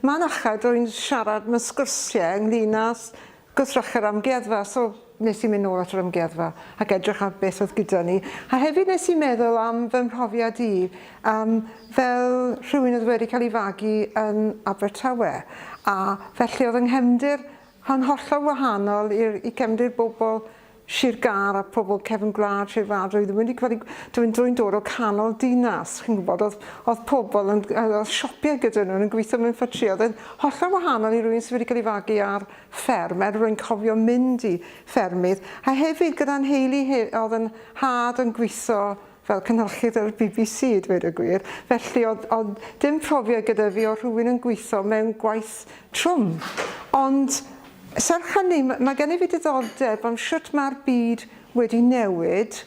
Mae'n achau rwy'n siarad mewn sgwrsiau ynglŷn â gwrthrych yr amgueddfa, so wnes i mynd nôl at yr amgueddfa ac edrych ar beth oedd gyda ni. A hefyd wnes i meddwl am fy mhrofiad i yym fel rhywun oedd wedi cael ei fagu yn Abertawe, a felly oedd yng nghefndir yn hollol wahanol i'r i gefndir bobl Sir Gâr a phobl cefn gwlad Sir Fâr roeddwn wedi gweld i dw i'n drwy'n dod o canol dinas chi'n gwybod oedd, oedd pobl yn oedd siopie gyda nhw yn gweithio mewn ffatri oedd e'n hollol wahanol i rwy'n sydd wedi cael ei fagu ar fferm er rwy'n cofio mynd i ffermydd a hefyd gyda'n nheulu oedd yn had yn gweithio fel cynhyrchydd ar y bbc i ddweud y gwir, felly oedd oedd dim profiad gyda fi o rhywun yn gweithio mewn gwaith trwm. Ond serch hynny, m- mae gennyf fi diddordeb am shwt mae'r byd wedi newid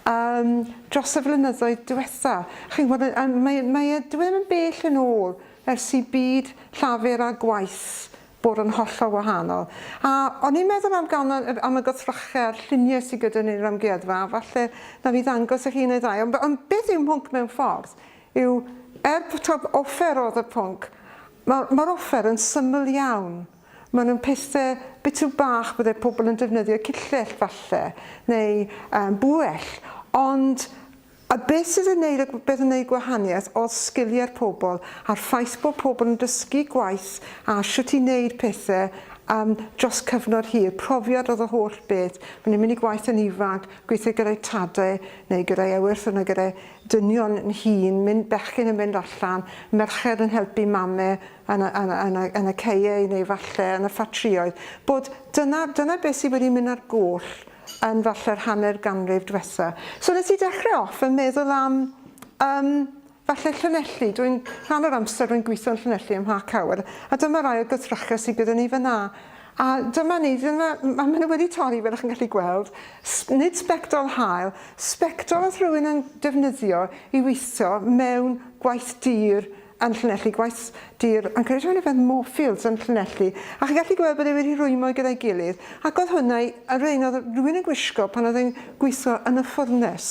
um, dros y flynyddoedd diwetha. Chi'n gwybod, mae, mae e, dwi ddim yn bell yn ôl ers i byd llafur a gwaith bwrw yn hollol wahanol. A o'n i'n meddwl am gan yr am y gothrochau a'r lluniau sydd gyda ni yn yr amgueddfa, a falle na fi ddangos y hi neu ddau, ond, ond beth yw mhwnc mewn ffordd yw, er bod offer oedd y pwnc, mae'r ma offer yn syml iawn. Maen nhw'n pethau bitw bach byddai pobl yn defnyddio, cillell falle, neu um, bwell, ond A beth sydd yn neud y beth yn neud gwahaniaeth odd sgilie'r pobl a'r ffaith bod pobl yn dysgu gwaith a shwt i neud pethe yym dros cyfnod hir, profiad odd y holl beth, bo' ni'n mynd i gwaith yn ifanc, gweithio gyda'i tad e neu gyda'i ewythr yno gyda'i dynion yn hŷn, mynd bechgyn yn mynd allan, merched yn helpu mame yn y yn y yn y yn y caeau neu falle yn y ffatrïoedd, bod dyna dyna beth sydd wedi mynd ar goll yn falle'r hanner ganrif dwetha. So nes i dechrau off yn meddwl am um, falle Llanelli. Dwi'n rhan o'r amser rwy'n gweithio yn Llanelli ym Mha Cawr, a dyma rai o gythrachau sydd gyda ni fyna. A dyma ni, dyma, mae nhw wedi torri fel ych chi'n gallu gweld, nid sbectol hael, sbectol oedd rhywun yn defnyddio i weithio mewn gwaith dir yn llinellu gwaith dur yn creu rhywun yfed Moorfields yn llinellu a chi'n gallu gweld bod e wedi rhwymo gyda'i gilydd ac oedd hwnna yr un oedd rhywun yn gwisgo pan oedd e'n gweithio yn y ffwrnes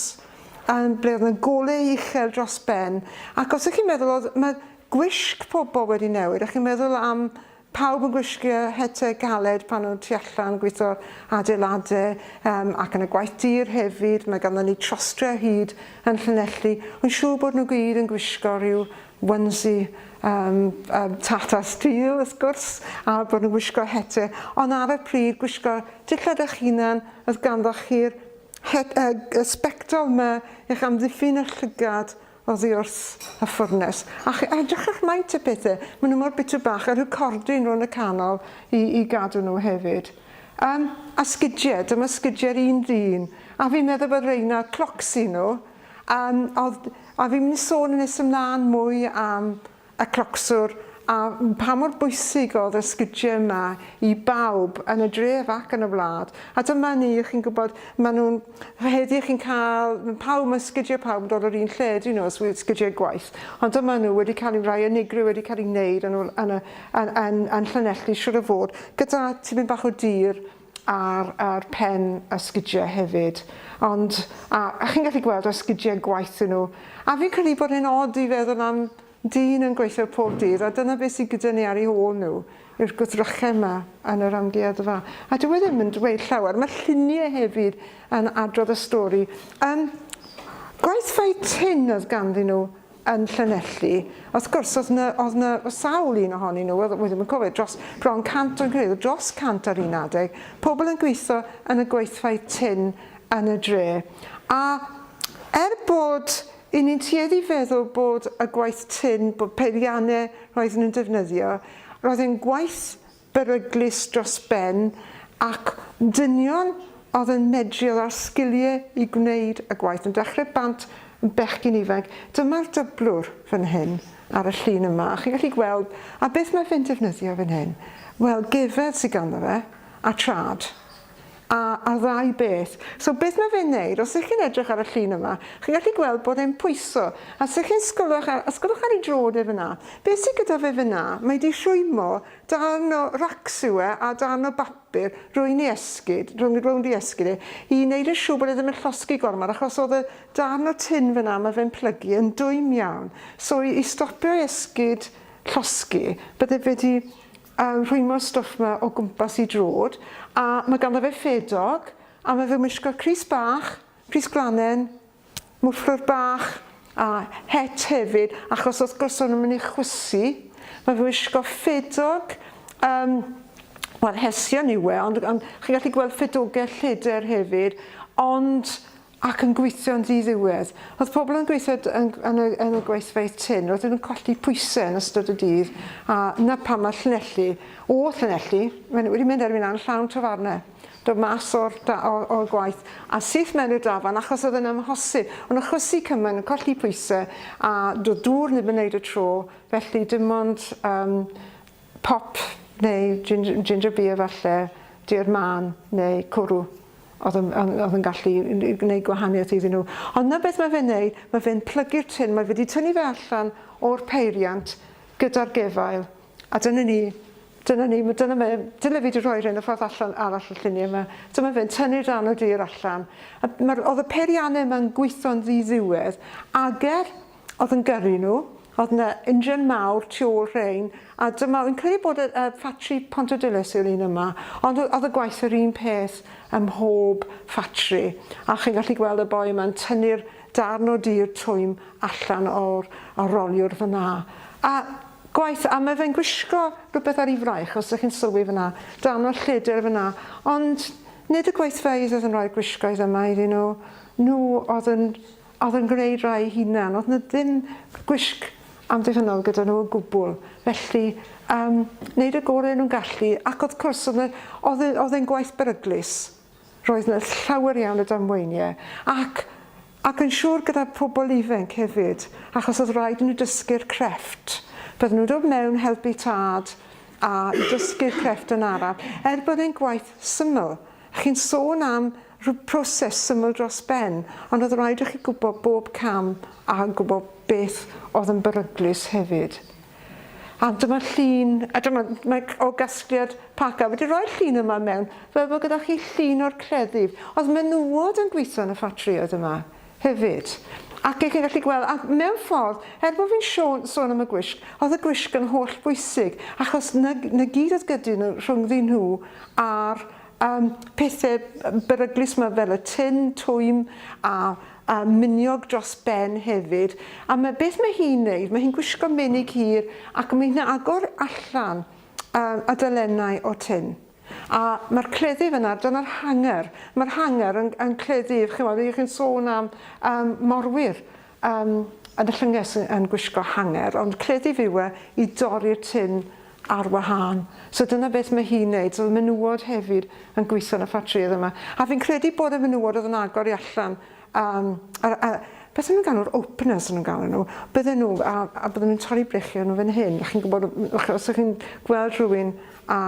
yn ble oedd yna gole uchel dros ben ac os ych chi'n meddwl oedd mae gwisg pobl wedi newid a chi'n meddwl am Pawb yn gwisgo hetiau caled pan nhw'n tu allan, gweithio adeiladau yym ac yn y gwaith dur hefyd, mae ganddon ni trostri o hyd yn Llanelli, wi'n siŵr bod nhw gyd yn gwisgo rhyw onesie yym yym Tata Steel wrth gwrs a bod nhw'n gwisgo hetiau ond ar y pryd gwisgo dillad eich hunan oedd ganddoch chi'r het- yy y sbectol 'ma i'ch amddiffyn y llygad oddi wrth y ffwrnes, a ch- a edrych ar maint y pethe, ma' nw mor bitw bach, a rhyw cordyn rw yn y canol i i gadw nw hefyd. Yym, a sgidie, dyma sgidie'r un ddyn, a fi'n meddwl bod reina clocs i nw, yym, o'dd, a fi'n myn' i sôn yn nes ymlan mwy am y clocswr a pha mor bwysig oedd y sgidie yma i bawb yn y dref ac yn y wlad. A dyma ni, chi'n gwybod, maen nhw'n rhedi, chi'n cael, pawb, mae sgidiau pawb yn dod o'r un lle, dyn nhw, sgidiau gwaith. Ond dyma nhw wedi cael eu rhai unigryw wedi cael eu wneud yn, yn, yn, yn, yn Llanelli, siwr o fod, gyda tipyn bach o dir, ar ar pen y sgidie hefyd ond a a chi'n gallu gweld y sgidie gwaith yn nhw a fi'n credu bod e'n od i feddwl am dyn yn gweithio pob dydd a dyna beth sy'n gyda ni ar ei hôl nhw yw'r gwddrychau yma yn yr amgueddfa a dyw e ddim yn dweud llawer mae lluniau hefyd yn adrodd y stori um, gwaith fai tin oedd ganddyn nhw yn Llanelli. Wrth gwrs, oedd na, oedd na sawl un ohonyn nhw, oedd, ddim yn cofio, dros bron 100 o'n credu, dros 100 ar un adeg, pobl yn gweithio yn y gweithfau tin yn y dre. A er bod i ni'n tueddu feddwl bod y gwaith tin, bod peiriannau roedden nhw'n defnyddio, roedd e'n gwaith beryglus dros ben ac dynion oedd yn medru, oedd â'r sgiliau i gwneud y gwaith, yn dechrau bant yn bechgyn ifanc. Dyma'r dyblwr fan hyn ar y llun yma, a chi'n gallu gweld, a beth mae fe'n defnyddio fan hyn? Wel, gefedd sy ganddo fe, a trad. a a'r ddau beth. So beth mae fe'n neud, os ych chi'n edrych ar y llun yma, chi'n gallu gweld bod e'n pwyso, a os ych chi'n sgolwch ar, sgolwch ar ei drod e fyna, beth sydd gyda fe fyna, mae wedi rhwymo darn o racs yw e, a darn o bapur rwy'n ei esgid, rhwng, rownd ei esgid e, i wneud yn siŵr bod e ddim yn llosgi gormod, achos oedd y darn o tin fyna mae fe'n plygu yn dwym iawn, so i stopio i esgid llosgi, bydde fe wedi a rhwymo stwff ma o gwmpas i drwd a ma ganddo fe ffedog a ma fe'n wisgo crys bach, crys gwlanen, mwfflwr bach a het hefyd achos wrth gwrs o'n nw'n myn i chwysu ma fe'n wisgo ffedog yym wel hesion yw e ond ond chi'n gallu gweld ffedoge lleder hefyd ond ac yn gweithio'n ddiddiwedd. Oedd pobl yn gweithio yn, yn, y, yn y gweithfeydd tyn, roedden nhw'n colli pwysau yn ystod y dydd, a na pam mae Llanelli, o Llanelli, maen nhw wedi mynd erbyn a'n llawn tafarnau, dod mas o'r, o'r, o'r gwaith, a syth mewn i'r dafarn achos oedd yn amhosib, ond achosi cymaint yn colli pwysau, a doedd dŵr ddim yn wneud y tro, felly dim ond um, pop neu ginger, ginger beer falle, diod man neu cwrw. Oedd yn, oedd yn gallu gwneud gwahaniaeth iddyn nhw. Ond na beth mae fe'n neud, mae fe'n plygu'r tin, mae wedi tynnu fe allan o'r peiriant gyda'r gefail. A dyna ni, dyna ni, dyna mae, dyna fi wedi rhoi rhain y ffordd allan arall y lluniau yma. Dyma fe'n tynnu'r dan o dir allan. Oedd y peiriannau yma'n gweithio'n ddiddiwedd, ager Oedd yn gyrru nhw. Oedd yna injan mawr tu ôl rhein, a dyma, fi'n credu bod y uh, ffatri Pontydilys yw'r un yma, ond oedd y gwaith yr un peth ym mhob ffatri. A chi'n gallu gweld y boi yma'n tynnu'r darn o dir twym allan o'r, o'r roliwr fyna. A gwaith, a mae fe'n gwisgo rhywbeth ar ei fraich, os ydych chi'n sylwi fyna, dan o'r lledr fyna. Ond nid y gweithfeydd oedd yn rhoi'r gwisgoedd yma iddyn nhw, nhw oedd yn Oedd yn gwneud rai ei hunan. Oedd 'na ddim gwisg amddiffynnol gyda nhw o gwbl. Felly, yym, wneud y gorau o'n nhw'n gallu, ac wrth cwrs, oedd 'na, oedd e, oedd e'n gwaith beryglus. Roedd 'na llawer iawn o damweiniau, ac, ac yn siŵr gyda phobl ifainc hefyd, achos oedd rhaid i nhw dysgu'r crefft. Bydden nhw'n dod mewn, helpu tad, a i dysgu'r crefft yn araf, er bod e'n gwaith syml. Chi'n sôn am Roedd proses syml dros ben, ond oedd rhaid i chi gwybod bob cam a gwybod beth oedd yn beryglus hefyd. A dyma llun, a dyma, mae o gasgliad Paca. Wedi rhoi'r llun yma mewn, fel bod gyda chi llun o'r cleddyf. Oedd menywod yn gweithio yn y ffatrïoedd yma hefyd. Ac chi'n gallu gweld, a mewn ffordd, er bod fi'n sôn am y gwisg, oedd y gwisg yn holl bwysig, achos na, na gyd oedd gyda nhw rhyngddyn nhw a'r Yym, pethe beryglus 'ma fel y tun, twym a a miniog dros ben hefyd. A ma' beth ma' hi'n neud, ma' hi'n gwisgo menig hir ac ma' hi'n agor allan yy y dalennau o tun. A ma'r cleddyf yna, dyna'r hanger, ma'r hanger yn yn cleddyf, chi'n weld, chi'n sôn am yym morwyr. Yym, yn y llynges yn gwisgo hanger, ond credif yw e i dorri'r tin ar wahân. So dyna beth mae hi'n neud. So o'dd y menywod hefyd yn gweitho yn y ffatrïoedd yma. A fi'n credu bod y menywod o'dd yn agor i allan yym yr yy beth o'n nhw'n galw'r openers o'n nhw'n galw nhw. Bydden nhw a a bydden nhw'n torri brechiau nhw fan hyn. Chi'n gwbod os o'ch chi'n gweld rhywun â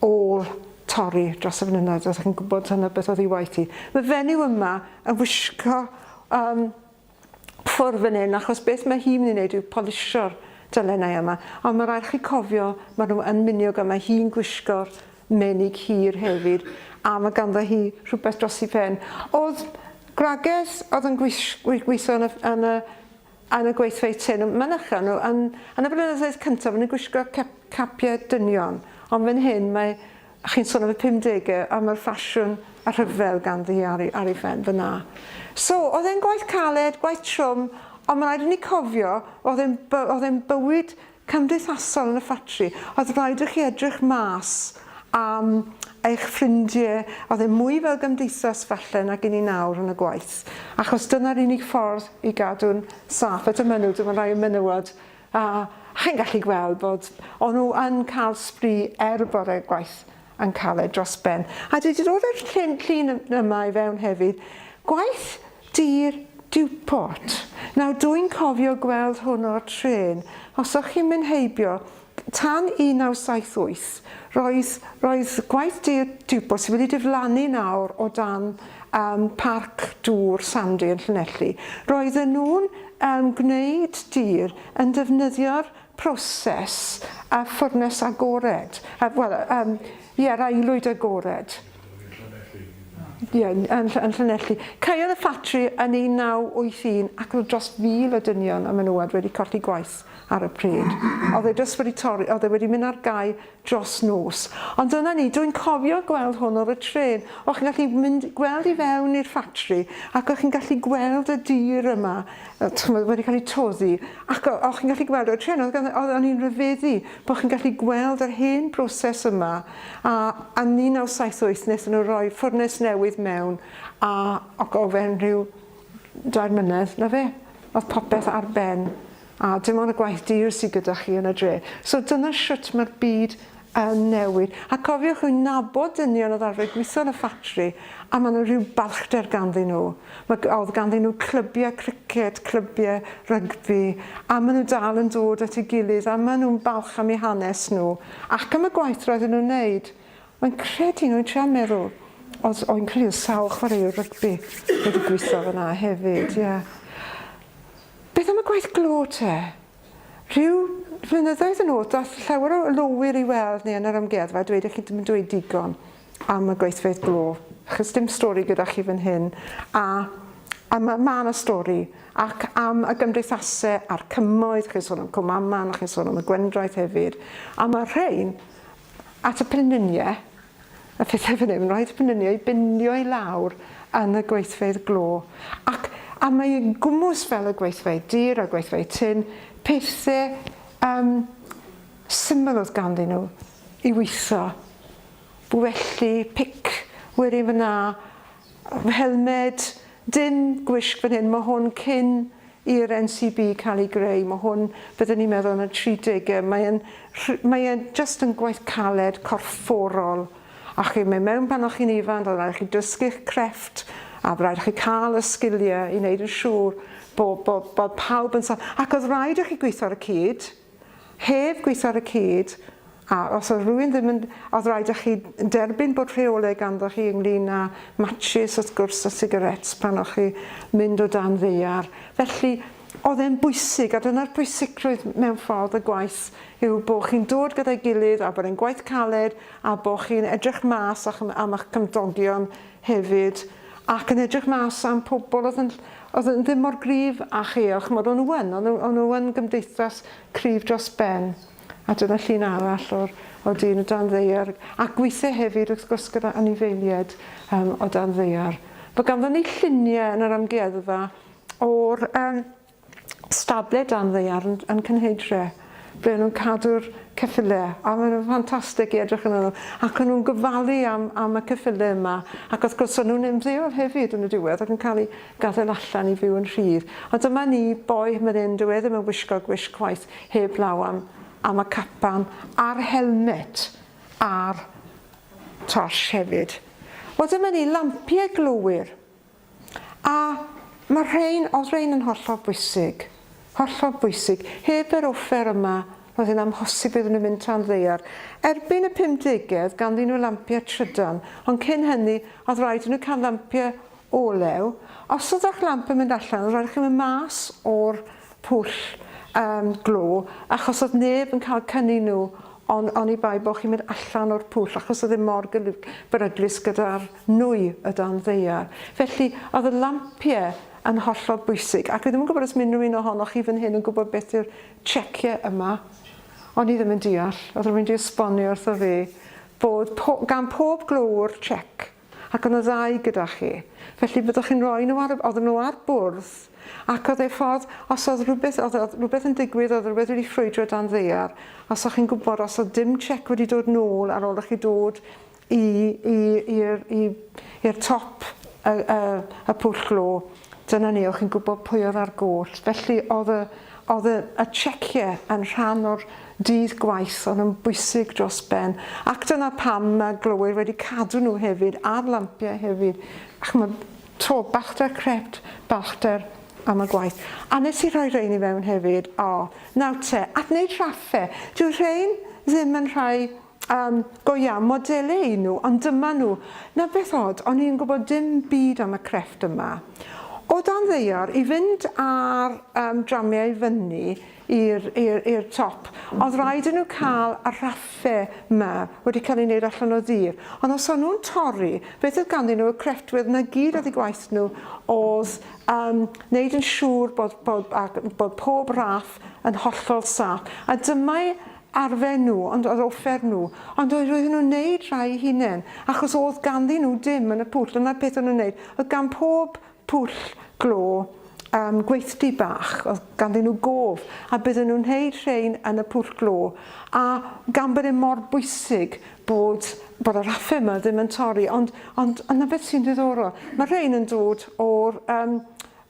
ôl torri dros y flynyddoedd, os chi'n gwybod hynna beth oedd ei waith hi. Mae fenyw yma yn wisgo um, ffwr fan hyn, achos beth mae hi'n mynd i wneud yw polisio'r dalennau yma. Ond mae rhaid chi cofio, mae nhw yn miniog a mae hi'n gwisgo'r menig hir hefyd, a mae ganddo hi rhywbeth dros i pen. Oedd Grages oedd yn gweithio yn y, yn y yn y gweithfeydd trên yn mynychu nhw. Yn yn y blynyddoedd cyntaf o'n i'n gwisgo cep capiau dynion ond fan hyn mae chi'n sôn am y pumdegau a mae'r ffasiwn a rhyfel ganddi ar ei ar ei phen fan'na. So oedd e'n gwaith caled, gwaith trwm ond ma' raid i ni cofio oedd e'n by- oedd e'n bywyd cymdeithasol yn y ffatri, oedd rhaid i chi edrych mas am eich ffrindie, oedd e mwy fel gymdeithas falle nag i ni nawr yn y gwaith, achos dyna'r unig ffordd i gadw'n saff, eto mynw, dim ond rhai o menywod, a chi'n gallu gweld bod o'n nhw yn cael sbri er y bore gwaith yn caled dros ben. A dwi 'di dod â'r llun, llun yma i fewn hefyd. Gwaith dir Dewport. Nawr dwi'n cofio gweld hwn o'r trên. Os o'ch chi'n mynd heibio, tan 1978, roedd, roedd gwaith dir Dewport sydd wedi diflannu nawr o dan um, parc dŵr Sandy yn Llanelli. Roedden nhw'n um, gwneud dir yn defnyddio'r proses a ffwrnes agored, a, wel, um, ie, yr aelwyd agored. Ie, yn, yn, yn Llanelli. Caeodd y ffatri yn 1981 ac roedd dros fil o dynion a menywod wedi colli gwaith ar y pryd. Oedd e dros wedi torri, oedd e wedi mynd ar gau dros nos. Ond dyna ni, dwi'n cofio gweld hwn ar y trên. O' chi'n gallu mynd, gweld i fewn i'r ffatri, ac o' chi'n gallu gweld y dir yma, yy ch'mod, wedi cael ei toddi, ac o' o' chi'n gallu gweld ar y trên, o'dd ganddo, o'dd o'n i'n rhyfeddu bo' chi'n gallu gweld yr hen broses yma, a yn 1978 nethon nhw roi ffwrnes newydd mewn, a ac o fewn rhyw dair mlynedd, 'na fe, o'dd popeth ar ben. A dim ond y gwaith dur sydd gyda chi yn y dre. So dyna shwt mae'r byd yn newid. A cofiwch, wi'n nabod dynion oedd arfer gweithio yn y ffatri a mae 'na rhyw balchder ganddyn nhw. Mae, oedd ganddyn nhw clybiau criced, clybiau rygbi a maen nhw dal yn dod at ei gilydd a maen nhw'n balch am eu hanes nhw ac am y gwaith roedden nhw'n wneud. Mae'n credu nhw, wi'n trial meddwl, oedd, oedd yn credu oedd sawl chwaraewr rygbi wedi gweithio fanna hefyd, ie. Yeah. Beth am y gwaith glo te? Rhyw flynyddoedd yn ôl daeth llawer o lowyr i weld ni yn yr amgueddfa a dweud i chi ddim yn dweud digon am y gweithfeydd glo achos dim stori gyda chi fan hyn a a ma' ma' 'na stori ac am y gymdeithase a'r cymoedd chi'n sôn am Cwmaman a chi'n sôn am y Gwendraeth hefyd a ma' rhein at y Pryninie A phethau fan hyn, roedd fy nyni a'i binio i lawr yn y gweithfeydd glo, ac a mae i gwmws fel y gweithfeydd dur a gweithfeydd tun, pethau yym syml oedd ganddyn nhw i witho, bwelli, pic, werin fan'na, Helmed, dim gwisg fan hyn, mae hwn cyn i'r NCB cael ei greu, mae hwn, byddwn ni'n meddwl, yn y tri degau, mae e'n rh-, mae e jyst yn gwaith caled, corfforol, a chi'n mynd mewn pan o'ch chi'n ifanc, oedd rhaid i chi dysgu'ch crefft, a oedd rhaid i chi cael y sgiliau i wneud yn siŵr bo- bo- bod pawb yn sa-, ac oedd rhaid i chi gweithio ar y cyd, Heb gweithio ar y cyd, a os oedd rhywun ddim yn... oedd rhaid i chi derbyn bod rheolau ganddoch chi ynglyn â matshis wrth gwrs a sigaréts pan o'ch chi mynd o dan ddaear. Felly oedd e'n bwysig a dyna'r pwysigrwydd mewn ffordd y gwaith yw bod chi'n dod gyda'i gilydd a bod e'n gwaith caled a bod chi'n edrych mas am eich cymdogion hefyd ac yn edrych mas am pobl oedd yn oedd yn ddim mor gryf a chi a ch'mod o'n nhw yn o'n nhw o'n nhw yn gymdeithas cryf dros ben a dyna llun arall o'r o dyn o dan ddaear a gweithio hefyd wrth gwrs gyda anifeiliaid um, o dan ddaear. Fe ganddon ni lluniau yn yr amgueddfa o'r um, stable dan ddaearn yn Cynheidre ble o'n nhw'n cadw'r ceffylau a maen nhw'n ffantastig i edrych yn nhw ac o'n nhw'n gofalu am, am y ceffylau yma ac wrth gwrs o'n nhw'n ymddeol hefyd yn y diwedd ac yn cael eu gadael allan i fyw yn rhydd ond dyma ni boi hyn yn dyw e ddim yn wisgo gwisg chwaith heb law am, am y capan a'r helmet a'r torch hefyd. Wel dyma ni lampiau glowyr A mae'r rhain, oedd rhain yn hollol bwysig, hollol bwysig. Heb yr offer yma, roedd yn amhosib iddyn nhw mynd tan ddaear. Erbyn y pumdegedd, ganddyn nhw lampiau trydan, ond cyn hynny, oedd rhaid i nhw cael lampiau olew. Os oedd eich lamp yn mynd allan, oedd rhaid i chi mynd mas o'r pwll um, glo, achos oedd neb yn cael cynnu nhw on, oni bai bod chi'n mynd allan o'r pwll, achos oedd e mor beryglus gyda'r nwy y dan ddaear. Felly, oedd y lampie yn hollol bwysig, ac fi ddim yn gwybod os mae unrhyw un ohonoch chi fan hyn yn gwybod beth yw'r check'e yma. O'n i ddim yn deall, oedd rhywun wedi esbonio wrtho fi bod po, gan pob glowr check, ac o'n y ddau gyda chi. Felly byddwch chi'n rhoi nhw ar, oedd nhw ar bwrdd, ac oedd ei ffordd, os oedd rhywbeth, oedd, oedd rhywbeth yn digwydd, oedd rhywbeth wedi ffrwydro dan ddear, os o'ch chi'n gwybod os oedd dim check wedi dod nôl ar ôl i chi dod i i i'r i i'r top y y y pwll glo dyna ni o chi'n gwbo pwy o'dd ar goll felly o'dd y o'dd y y cheque yn rhan o'r dydd gwaith o'n yn bwysig dros ben ac dyna pam ma' glowyr wedi cadw nhw hefyd ar lampie hefyd a ch'mod to ballter crept ballter am y gwaith a nes i rhoi rhein i fewn hefyd o nawr te at neud rhaffe dyw rhein ddim yn rhai Yym, go iawn, modele y'n nhw, ond dyma nhw. Nawr beth od, o'n i yn gwybod dim byd am y crefft yma. O dan ddaear, i fynd â'r yym dramiau i fyny i'r i'r i'r top, oedd raid i nhw cael y rhaffe 'ma wedi cael ei wneud allan o ddur. Ond os o'n nhw'n torri, beth oedd ganddyn nhw, y crefftwyr, 'na gyd oedd eu gwaith nhw oedd yym wneud yn siŵr bod bod ac bod pob raff yn hollol saff. A dyma'i arfer nhw ond yr offer nhw ond oedd roedden nhw'n neud rhai i hunen achos oedd ganddyn nhw dim yn y pwll dyna'r peth o'n nhw'n neud oedd gan pob pwll glo um, gweithdy bach oedd ganddyn nhw gof a bydden nhw'n neud rhain yn y pwll glo a gan bod e mor bwysig bod bod yr affe yma ddim yn torri ond ond yna beth sy'n ddiddorol mae rhain yn dod o'r um,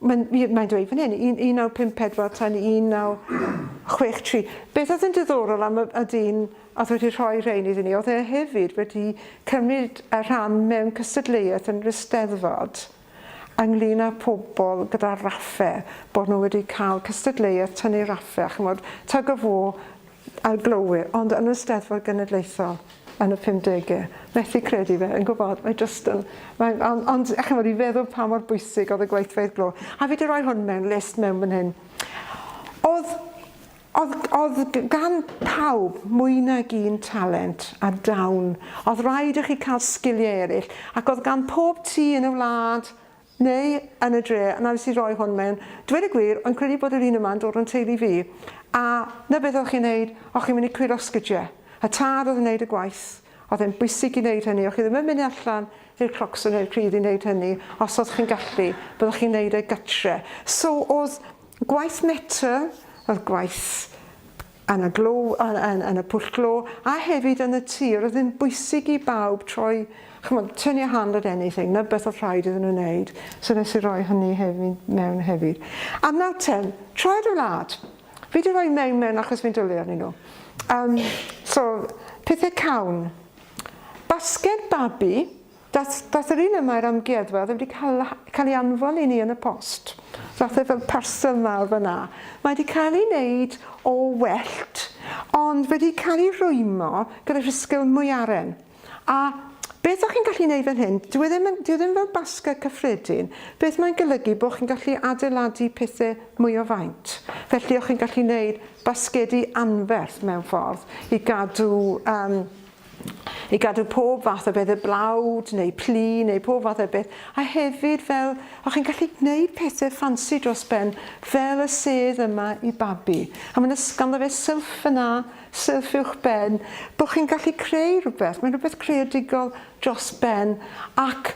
Mae'n mae dweud fan hyn, 1954 tan 1963. Beth oedd yn diddorol am y, y dyn oedd wedi rhoi rhain iddyn ni, oedd e hefyd wedi cymryd y rhan mewn cystadleuaeth yn yr Eisteddfod ynglyn â pobl gyda raffe, bod nhw wedi cael cystadleuaeth tynnu raffe, a chymod, tug of war, Arglwydd, ond yn y Steddfod Genedlaethol yn y pumdege. Methu credu fe, yn gwybod, mae jyst yn... Mae, ond, ond, a chymod, i feddwl pa mor bwysig oedd y gweithfeydd glo. A fi di roi hwn mewn list mewn fan hyn. Oedd, oedd, oedd gan pawb mwy nag un talent a dawn. Oedd rhaid i chi cael sgiliau eraill, ac oedd gan pob tŷ yn y wlad Neu yn y dre, na wnes i roi hwn mewn. Dweud y gwir, o'n credu bod yr un yma'n dod o'n teulu fi. A 'na beth o'ch chi'n neud, o'ch chi'n mynd i curo sgidie. Y tad oedd yn neud y gwaith. Oedd e'n bwysig i neud hynny, o'ch chi ddim yn mynd allan i'r Croxon neu'r Pridd i neud hynny, os o'ch chi'n gallu, byddwch chi'n neud e gytre. So, o'dd gwaith metel, o'dd gwaith yn y glo, yn, yn, yn y pwll glo, a hefyd yn y tir, oedd yn bwysig i bawb troi, chymod, turn your hand at anything, na beth oedd rhaid iddyn nhw wneud, so nes i roi hynny hefyd mewn hefyd. A nawr ten, troi dy wlad. Fi wedi rhoi mewn mewn achos fi'n dwlu arnyn nhw. Um, so, pethau cawn. Basged babi, Daeth yr un yma i'r amgueddfa, oedd e wedi cael cael ei anfon i ni yn y post. Ddaeth e fel parcel mawr fan'na. Mae 'di cael ei wneud o wellt, ond wedi cael ei rwymo gyda rhisgl mwyaren. A beth dach chi'n gallu wneud fan hyn, dyw e ddim yn, dyw e ddim fel basged cyffredin, beth mae'n golygu bod chi'n gallu adeiladu pethe mwy o faint. Felly o'ch chi'n gallu wneud basgedi anferth mewn ffordd i gadw yym i gadw pob fath o beth, y blawd neu plu neu pob fath o beth, a hefyd fel o'ch chi'n gallu gwneud pethau ffansi dros ben fel y sedd yma i babi. A mae'n ysgafn o fe sylff yna, sylff uwch ben, bod chi'n gallu creu rhywbeth, mae'n rhywbeth creadigol dros ben ac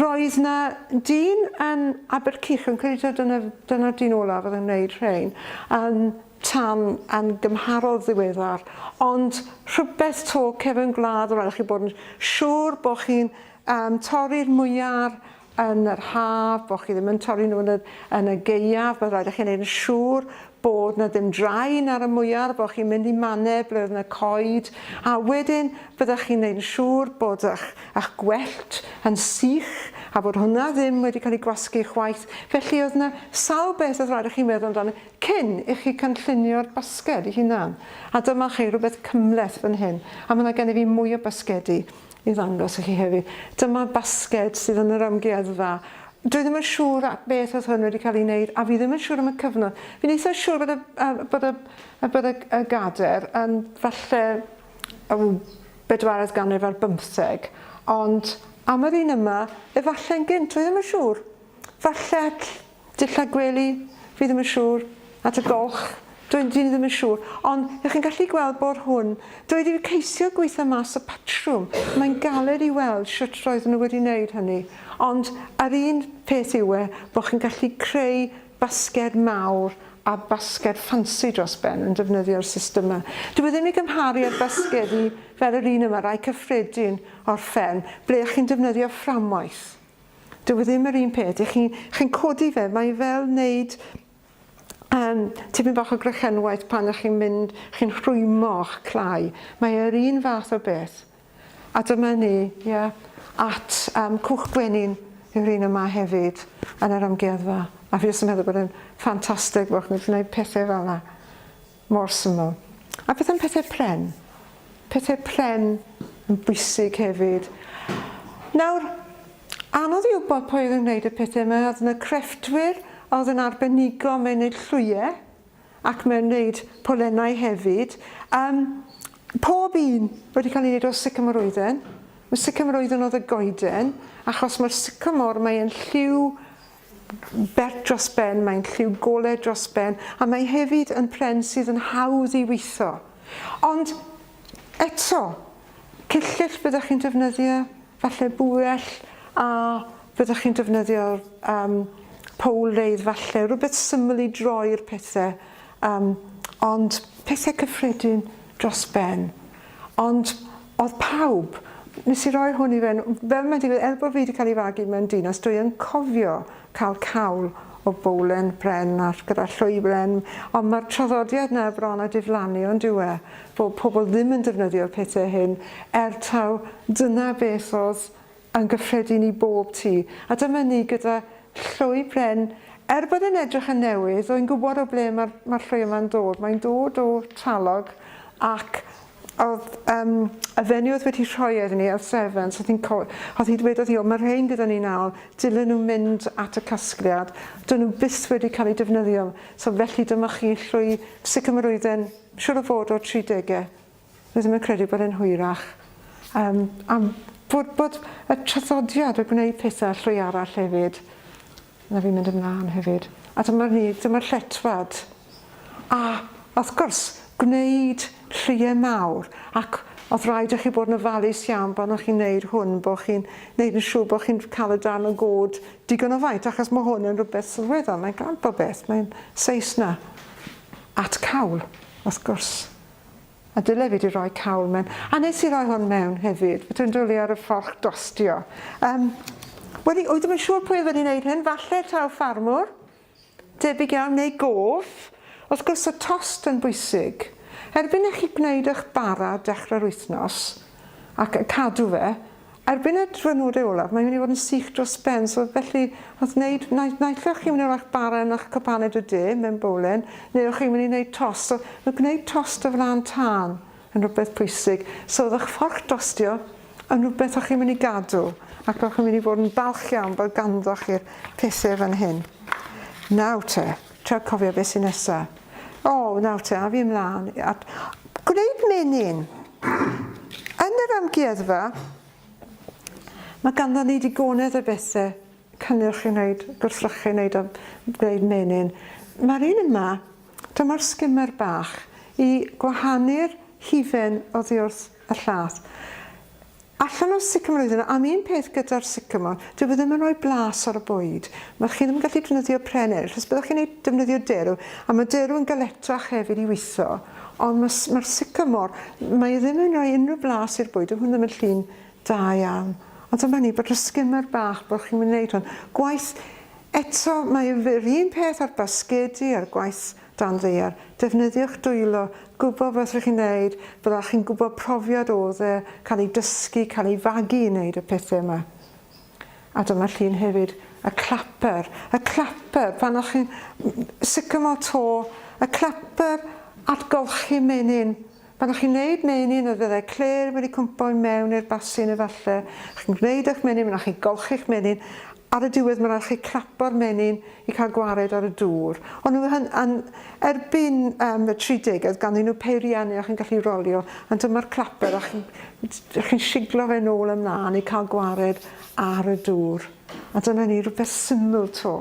roedd yna dyn yn Abercych, yn credu dyna, dyna'r dyn olaf oedd yn gwneud rhain, yn tan yn gymharol ddiweddar, ond rhywbeth 'to cefn gwlad o ran i chi bod yn siŵr bod chi'n um, torri'r mwyar yn yr haf, bod chi ddim yn torri nhw yn y, yn y geiaf, mae'n rhaid i chi'n gwneud yn siŵr bod na ddim draen ar y mwyar, bod chi'n mynd i mannau ble oedd yna coed, a wedyn byddwch chi'n gwneud yn siŵr bod eich, eich gwellt yn sych a bod hwnna ddim wedi cael ei gwasgu chwaith. Felly oedd yna sawl beth oedd rhaid i chi meddwl amdano Cyn i chi cynllunio'r basged 'i hunan. A dyma chi rhywbeth cymhleth fan hyn, a ma' 'na gennyf fi mwy o basgedi i ddangos i chi hefyd. Dyma basged sydd yn yr amgueddfa. Dwi ddim yn siŵr a- beth oedd hwn wedi cael ei wneud, a fi ddim yn siŵr am y cyfnod. Fi'n eitha siŵr bod y a- bod y a- bod y g- y gader yn falle o bedwaredd ganrif ar bymtheg, ond am yr un yma, efalle'n gynt, dwi ddim yn siŵr. Falle ll- Dillad gwely, fi ddim yn siŵr. At y golch, dwi dwi ddim yn siŵr. Ond, y'ch chi'n gallu gweld bore hwn, doedd ddim ceisio gweitho mas y patrwm. Mae'n galed i weld shwt roedden nhw wedi neud hynny. Ond, yr un peth yw e, bo' chi'n gallu creu basged mawr a basged ffansi dros ben yn defnyddio'r system 'ma. Dyw e ddim i gymharu â'r basgedi fel yr un yma, rai cyffredin o'r fferm, ble y'ch chi'n defnyddio fframwaith. Dyw e ddim yr un peth, dych chi'n chi'n codi fe, mae fel wneud um, tipyn bach o grechenwaith pan ych chi'n mynd, chi'n rhwymo'ch clai. Mae e'r un fath o beth. A dyma ni, ie, yeah, at um, cwch gwenyn yw'r un yma hefyd yn yr amgueddfa. A fi jyst yn meddwl bod e'n ffantastig bod chi'n gwneud pethau fel yna. Mor syml. A beth am pethau pren? Pethau pren yn bwysig hefyd. Nawr, anodd i wybod pwy oedd yn gwneud y pethau yma, oedd yna crefftwyr a oedd yn arbenigo mewn wneud llwyau ac mewn wneud polennau hefyd. Um, pob un wedi cael ei wneud o sycamor oedden. Mae sycamor oedden oedd y goeden, achos mae'r sycamor mae'n lliw bert dros ben, mae'n lliw golau dros ben, a mae hefyd yn pren sydd yn hawdd i weitho. Ond eto, cyllyll byddwch chi'n defnyddio, falle bwell, a byddwch chi'n defnyddio'r um, powl reidd falle, rhywbeth syml i droi'r pethau, um, ond pethau cyffredin dros ben. Ond Oedd pawb. Nes i roi hwn i fewn, fel mae'n digwydd, er bod fi 'di cael ei fagu mewn dinas, dwi yn cofio cael cawl o bowlen bren a gyda llwy bren, ond mae'r traddodiad 'na bron a diflannu ond dyw e, bod pobl ddim yn defnyddio'r pethau hyn, er taw dyna beth oedd yn gyffredin i bob tu, a dyma ni gyda llwy bren, er bod e'n edrych yn newydd, rwy'n gwybod o ble mae'r mae'r llwy yma'n dod, mae'n dod o Trallog ac oedd yym y fenyw oedd wedi rhoi e iddyn ni ar sefyns, oedd hi'n co- oedd hi dwedodd hi o mae'r rhein gyda ni nawr, dylen nhw mynd at y casgliad, dyn nhw byth wedi cael eu defnyddio, so felly dyma chi llwy sicr mae'r oedden siŵr o fod o'r tridegau. Rydym yn credu bod e'n hwyrach yym am bod bod y traddodiad o gwneud petha llwy arall hefyd, na fi'n mynd ymlan hefyd. A dyma ni, dyma'r lletfad. A wrth gwrs, gwneud llwyau mawr ac oedd rhaid i chi bod yn ofalus iawn pan o'ch chi'n neud hwn, bod chi'n neud yn siŵr bod chi'n cael y darn o god digon o faint achos mae hwn yn rhywbeth sylweddol, mae'n glan popeth, mae'n seis na at cawl, wrth gwrs. A dyle fi di roi cawl mewn. A nes i roi hwn mewn hefyd. Fedra i'n dwli ar y ffolch dostio. Um, Wel, oeddwn ddim yn siŵr pwy oedd yn gwneud hyn. Falle taw ffarmwr. Debyg iawn, neu gof. Wrth gwrs, y tost yn bwysig. Erbyn i chi gwneud eich bara dechrau'r wythnos, ac cadw fe, Erbyn y diwrnode olaf mae'n mynd i fod yn sych dros ben so felly wrth wneud nai- naill o'ch chi'n mynd i roi'ch bara yn ych cwpaned y de mewn bowlen neu o'ch chi'n mynd i wneud tost so ma' gwneud tost o flaen tân yn rhywbeth pwysig so o'dd ych fforc dostio yn rhywbeth o'ch chi'n mynd i gadw ac o'ch chi'n mynd i fod yn falch iawn bod ganddoch chi'r pethe fan hyn. Nawr te. Trio cofio be sy nesa. O, nawr te, a fi ymlaen at gwneud menyn. Yn yr amgueddfa, mae ganddo ni digonedd o bethe cynnyrch i wneud, gwrthrychu wneud a gwneud menyn. Mae'r un yma, dyma'r skimmer bach, i gwahanu'r hufen oddi wrth y llath. Allan o'r sycamore iddyn nhw. Am un peth gyda'r sycamore, dyw e ddim yn rhoi blas ar y bwyd. Mae'r chi ddim yn gallu defnyddio pren eraill, os byddwch chi'n neud, defnyddio derw, a mae derw yn galetach hefyd i witho, ond mae, mae'r sycamore, mae e ddim yn rhoi unrhyw blas i'r bwyd, dyw hwn ddim yn llun da iawn. Ond dyma ni, bod y skimmer bach, bod chi'n mynd i wneud hwn. Gwaith, eto, mae yr un peth a'r basgedi, a'r gwaith Dan ddaear. Defnyddiwch dwylo. Gwybod beth rydych chi'n wneud. Byddech chi'n gwybod profiad oedd e, cael ei dysgu, cael ei fagu i wneud y pethau yma. A dyma llun hefyd. Y clapper. Y clapper, pan o'ch chi'n sycamore to, y clapper at golchi menyn. Pan chi'n neud meinin yr fyddai clêr wedi cwmpo i mewn i'r basin efalle chi'n gneud ych menyn fanna chi'n golchi'ch menyn ar y diwedd ma' raid chi clapo'r menyn i cael gwared ar y dŵr o'n nhw hyn yn erbyn um, y tri degedd ganddyn nhw peiriannu a chi'n gallu rolio ond dyma'r claper a chi'n chi siglo fe nôl ymlaen i cael gwared ar y dŵr a dyna ni rhywbeth syml to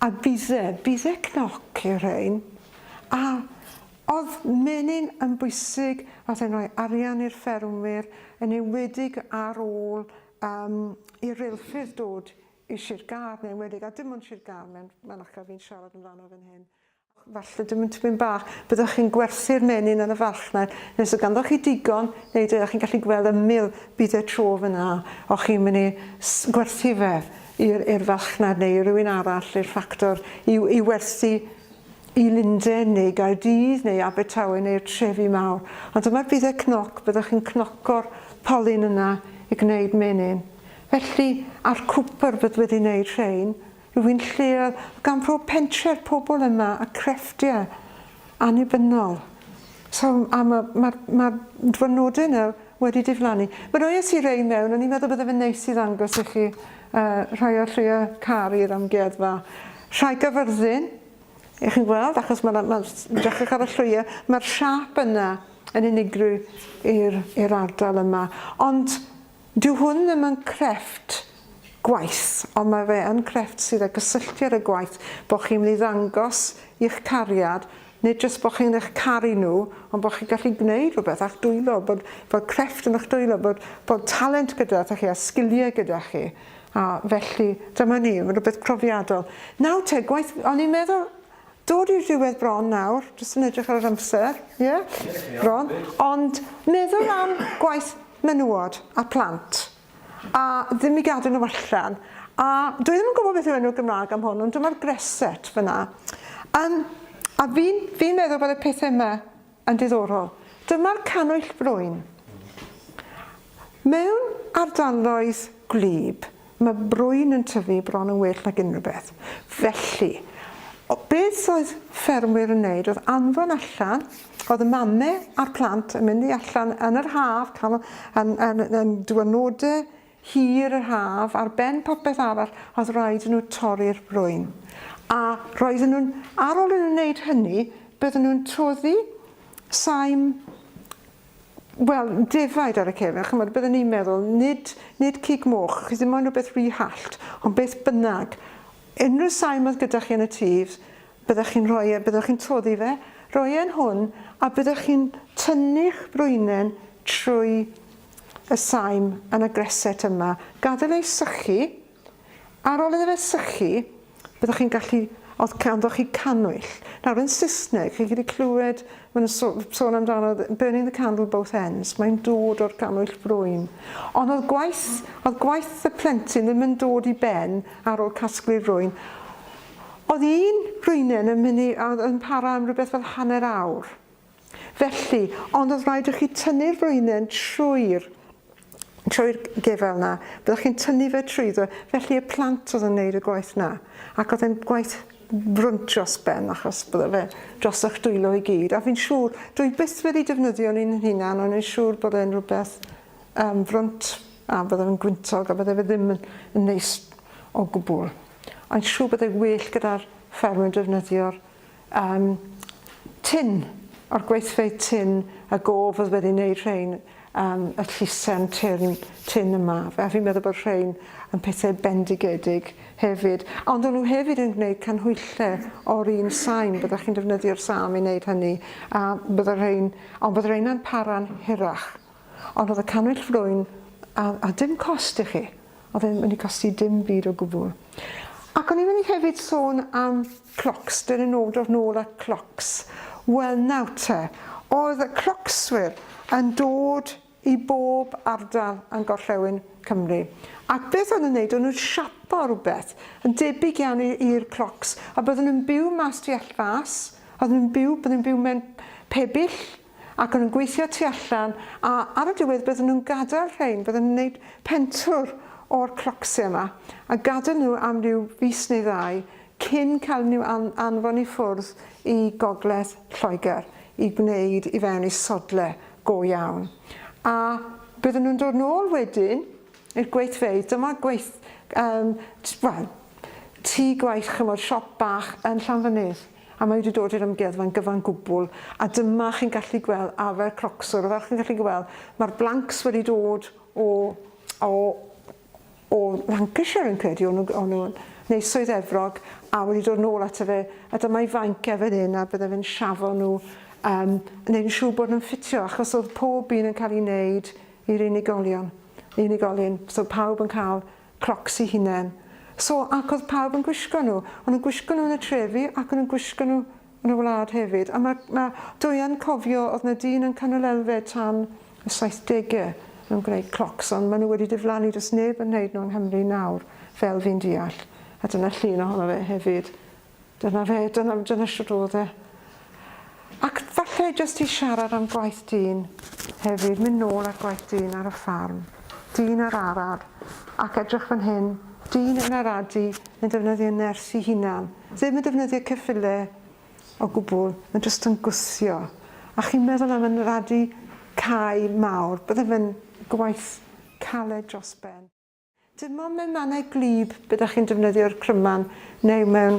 a bydde bydde cnoc i'r rhain a Oedd menyn yn bwysig, oedd e'n rhoi arian i'r ffermwyr, yn enwedig ar ôl yym i reilffyrdd dod i Sir Gâr, yn enwedig, a dim ond Sir Gâr, mae'n mae'n acra fi'n siarad amdano fan hyn. Falle dim ond tipyn bach, byddwch chi'n gwerthu'r menyn yn y farchnad, neu os oedd ganddoch chi digon, neu ydych chi'n gallu gweld ymyl bydd e tro fan'na, o'ch chi'n mynd i s- gwerthu fe i'r i'r farchnad neu i rywun arall, i'r ffactor, i i werthu i Lunden neu Gaerdydd neu Abertawe neu'r trefi mawr, ond dyma'r budde cnoc, byddwch chi'n cnoco'r polyn yna i gwneud menyn. Felly, a'r cwpr bydd wedi wneud rhein, rhywun lleol, gan bob pentre'r pobl yma a crefftiau annibynnol. So, a mae'r ma, ma dwrnodau yna wedi diflannu. Mae roi i rei mewn, o'n i'n meddwl bydde fe'n neis i ddangos i chi uh, rhai o'r lleia car i'r amgueddfa. Rhai gyfyrddin, Y'ch chi'n gweld, achos ma' 'na, ma'n s- dechrech ar y llwyie, ma'r siâp yna yn unigryw i'r i'r ardal yma. Ond dyw hwn ddim yn crefft gwaith, ond ma' fe yn crefft sydd â gysylltu ar y gwaith, bo' chi'n myn' i ddangos i'ch cariad, nid jyst bo' chi'n eich caru nhw, ond bo' chi'n gallu gwneud rhywbeth â'ch dwylo, bod bod crefft yn 'ych dwylo, bod bod talent gyda 'da chi a sgilie gyda chi. A felly, dyma ni, mae'n rhywbeth profiadol. Nawr te, gwaith, o'n i'n meddwl, dod i'r diwedd bron nawr, jyst yn edrych ar yr amser, ie, yeah, bron, ond meddwl am gwaith menywod a plant, a ddim i gadw nhw allan, a dwi ddim yn gwybod beth yw enw Gymraeg am hwn, ond dyma'r greset fyna. Um, a fi'n fi meddwl bod y pethau yma Yn ddiddorol. Dyma'r cannwyll broun. Mewn ardaloedd gwlyb, mae brwyn yn tyfu bron yn well nag unrhyw beth. Felly, beth oedd ffermwyr yn wneud oedd anfon allan, oedd y mame a'r plant yn mynd i allan yn yr haf, yn dŵad nodau hir yr haf, ar ben popeth arall oedd rhaid i nhw torri'r brwyn, a roedden nhw'n, ar ôl i nhw wneud hynny, bydden nhw'n toddi saim, wel, defaid ar y cefen, chymod, bydden ni'n meddwl, nid, nid cig moch, chi ddim ond rhywbeth rhy hallt, ond beth bynnag, unrhyw saim oedd gyda chi yn y tŷ, byddech chi'n rhoi e, byddech chi'n toddi fe, roi e'n hwn, a byddech chi'n tynnu'ch brwynen trwy y saim yn y greset yma, gadael e i sychu, ar ol iddo fe sychu, byddwch chi'n gallu, os ganddoch chi cannwyll, nawr yn Saesneg, chi'n gallu clywed, maen nhw'n so, sôn amdano, burning the candle both ends, mae'n dod o'r cannwyll brwyn. Ond oedd gwaith, oedd gwaith y plentyn ddim yn dod i ben ar ol casglu'r rwyn. Oedd un rwynen yn mynd i, oedd yn para am rhywbeth fel hanner awr. Felly, ond oedd rhaid i chi tynnu'r frwynen trwy'r trwy'r gefel 'na, byddech chi'n tynnu fe trwyddo, felly y plant oedd yn wneud y gwaith 'na, ac oedd e'n gwaith frwnt dros ben achos bydde fe dros eich dwylo i gyd, a fi'n siŵr, dwi byth wedi defnyddio un yn hunan, ond fi'n siŵr bod e'n rhywbeth um, frwnt, a bydde fe'n gwyntog, a bydde fe ddim yn, yn neis o gwbl. A'n siŵr bydde well gyda'r ffermwyr defnyddio'r Yym, tin, o'r gweithfeydd tin a gof oedd wedi wneud rhein, yym, y llisen tyrn tin yma. A fi'n meddwl bod rhein yn pethau bendigedig hefyd. Ond o'n nhw hefyd yn gwneud canhwyllau o'r un sain, byddwch chi'n defnyddio'r sâm i wneud hynny, a bydde rhein, ond bydde rheina'n para'n hirach. Ond oedd y cannwyll frwyn a, a dim cost i chi. Oedd e'n mynd i costi dim byd o gwbl. Ac o'n i'n mynd i hefyd sôn am clocs, dyn yn ôl dod nôl at clocs. Wel nawr te, oedd y clocswyr yn dod i bob ardal yn gorllewin Cymru. Ac beth o'n nhw'n neud, o'n nhw'n siapo rhywbeth yn debyg iawn i'r clocs, a byddwn nhw'n byw mas tu all fas, oedd nhw'n byw, byddwn nhw'n byw mewn pebyll, ac o'n nhw'n gweithio tu allan a ar y diwedd bydden nhw'n gadael rhein, bydden nhw'n wneud pentwr o'r crocsiau yma a gadael nhw am ryw fis neu ddau cyn cael nhw an anfon i ffwrdd i gogledd Lloegr i gwneud i fewn i sodle go iawn. A bydden nhw'n dod nôl wedyn i'r gweithfeydd, dyma gweith, um, wel, tŷ gwaith chymod, siop bach yn Llanfynydd. a mae wedi dod i'r amgueddfa'n gyfan gwbl a dyma chi'n gallu gweld arfer crocswr a fel chi'n gallu gweld mae'r blanks wedi dod o o o Lancashire yn credu o'n nhw neu Swydd Efrog a wedi dod nôl ato fe a dyma'i fainc e fan hyn a bydde fe'n siafo nhw um, neu yn siŵr bod nhw'n ffitio achos oedd pob un yn cael ei wneud i'r unigolion unigolyn so pawb yn cael Crocs i hunen. So, ac oedd pawb yn gwisgo nhw. O'n nhw'n gwisgo nhw yn y trefi ac o'n nhw'n gwisgo nhw yn y wlad hefyd. A ma', ma', dwi yn cofio, oedd 'na dyn yn Canol Elfed tan y saithdegau yn gwneud crocs, ond maen nhw wedi diflannu, does neb yn wneud nhw yng Nghymru nawr, fel fi'n deall. A dyna llun ohono fe hefyd. Dyna fe, dyna fe, dyna shwt o'dd e. Ac falle jyst i siarad am gwaith dyn hefyd, mynd nôl at gwaith dyn ar y ffarm, dyn ar arad, ac edrych fan hyn, dyn yn aradu, yn defnyddio nyrs 'i hunan, ddim yn defnyddio ceffyle o gwbwl, ma' jyst yn gwthio. A chi'n meddwl am yn aradu cae mawr, bydde fe'n gwaith caled dros ben. Dim ond mewn mannau gwlyb be da chi'n defnyddio'r cryman neu mewn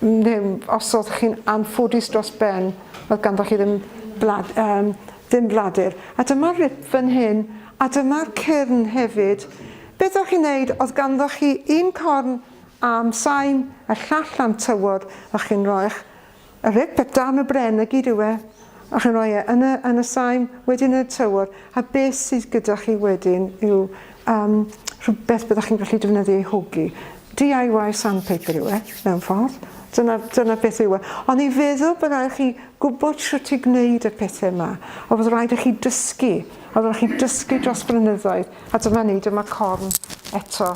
neu os oedd chi'n anffodus dros ben oedd ganddo chi ddim blad, um, ddim bladur. A dyma'r rip fan hyn a dyma'r cyrn hefyd. Beth o'ch chi'n neud oedd ganddo chi un corn am sain a llall am tywod o'ch chi'n roi'ch A rheg peth dan y bren na gyd yw e, a chi'n rhoi e yn y, yn y saim, wedyn yn y tywod, a beth sydd gyda chi wedyn yw um, rhywbeth byddwch chi'n gallu defnyddio i hogi. DIY sandpaper yw e, mewn ffordd. Dyna, dyna beth yw e. Ond i feddwl bod rhaid chi gwybod sut i gwneud y pethau yma, o fod rhaid i chi dysgu, o fod chi dysgu dros blynyddoedd, a dyma ni, dyma corn eto.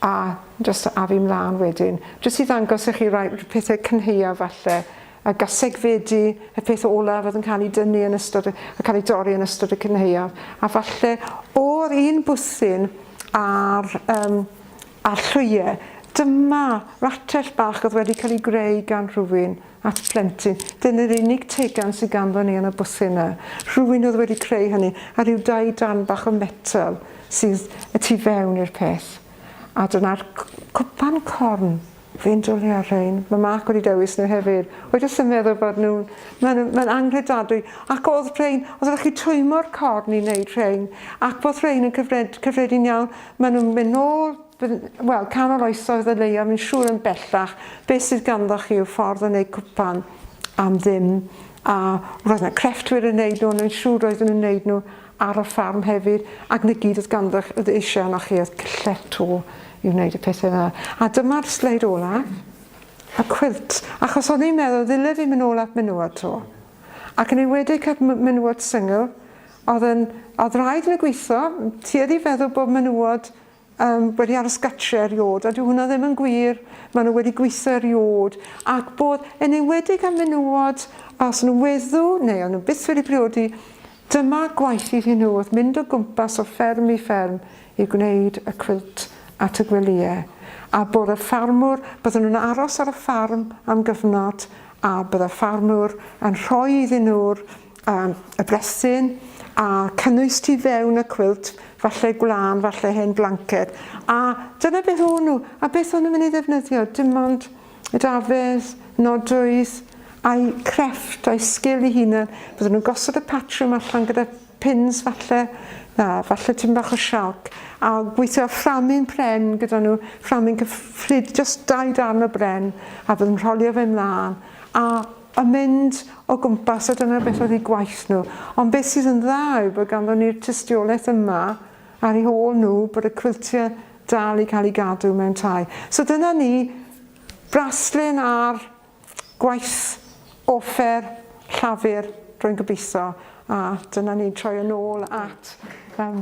a jyst afu mlaen wedyn. Jyst i ddangos i chi rai pethau cynhaeaf falle, y gasegfedi, y peth olaf oedd yn cael ei dynnu yn ystod, yn cael ei dorri yn ystod y cynhaeaf, a falle o'r un bwthyn a'r, um, a'r llwyau, dyma ratell bach oedd wedi cael ei greu gan rhywun. at blentyn. Dyna'r unig teigan sydd ganddon ni yn y bwthyn 'na. Rhywun oedd wedi creu hynny, a rhyw dai darn bach o metal sydd y tu fewn i'r peth. A dyna'r cwpan corn. Fi'n dwlu ar rhain. Mae Mark wedi dewis nhw hefyd. Wy jyst yn meddwl bod nhw'n... Mae'n ma anghredadwy. Ac oedd rhain, oedd ydych chi twymo'r corn i wneud rhain. Ac bod rhain yn cyfred, cyffredin iawn. Maen nhw'n mynd nôl Bydd, wel, canol oesoedd y leiaf yn siŵr yn bellach. Beth sydd ganddo chi yw ffordd yn eu cwpan am ddim. A roedd yna crefftwyr yn neud nhw, ond yn siŵr roedden nhw'n neud nhw ar y ffarm hefyd, ac na gyd oedd ganddo oedd eisiau yno chi oedd cyllell to i wneud y pethau yna. A dyma'r sleid olaf, y cwilt, achos oedd ni'n meddwl ddyle fi mynd ôl at menywod to. Ac yn enwedig at menywod syngl, oedd, yn, oedd rhaid yn y gweithio, tueddu feddwl bod menywod yym, wedi aros gatre eriôd, a dyw hwnna ddim yn gwir, maen nhw wedi gweithio eriôd, ac bod, yn enwedig am menywod, os nhw weddu, neu o'n nhw byth wedi priodi, dyma gwaith iddyn nhw oedd mynd o gwmpas o fferm i fferm i gwneud y cwilt at y gwelyau, a bod y ffarmwr, bydden nhw'n aros ar y ffarm am gyfnod, a bydde ffarmwr yn rhoi iddyn nhw'r a y brethyn, a cynnwys tu fewn y cwilt, falle gwlân, falle hen blanced, a dyna beth o'n nhw, a beth o'n nhw'n mynd i ddefnyddio, dim ond dafedd, nodwydd, a'i crefft, a'i sgil i hunan, byddwn nhw'n gosod y patrwm allan gyda pins falle, na, falle tyn bach o sialc, a gweithio â fframyn pren gyda nhw, fframyn cyfflyd, just dau darn o bren, a byddwn rholio fe mlaen, a a mynd o gwmpas a dyna beth oedd eu gwaith nhw. Ond beth sydd yn dda yw bod ganddon ni'r tystiolaeth yma ar ei hôl nhw bod y cwiltiau dal i cael ei gadw mewn tai. So dyna ni, braslun ar gwaith offer Llafur, rwy'n gobeithio, a dyna ni'n troi yn ôl at... Um,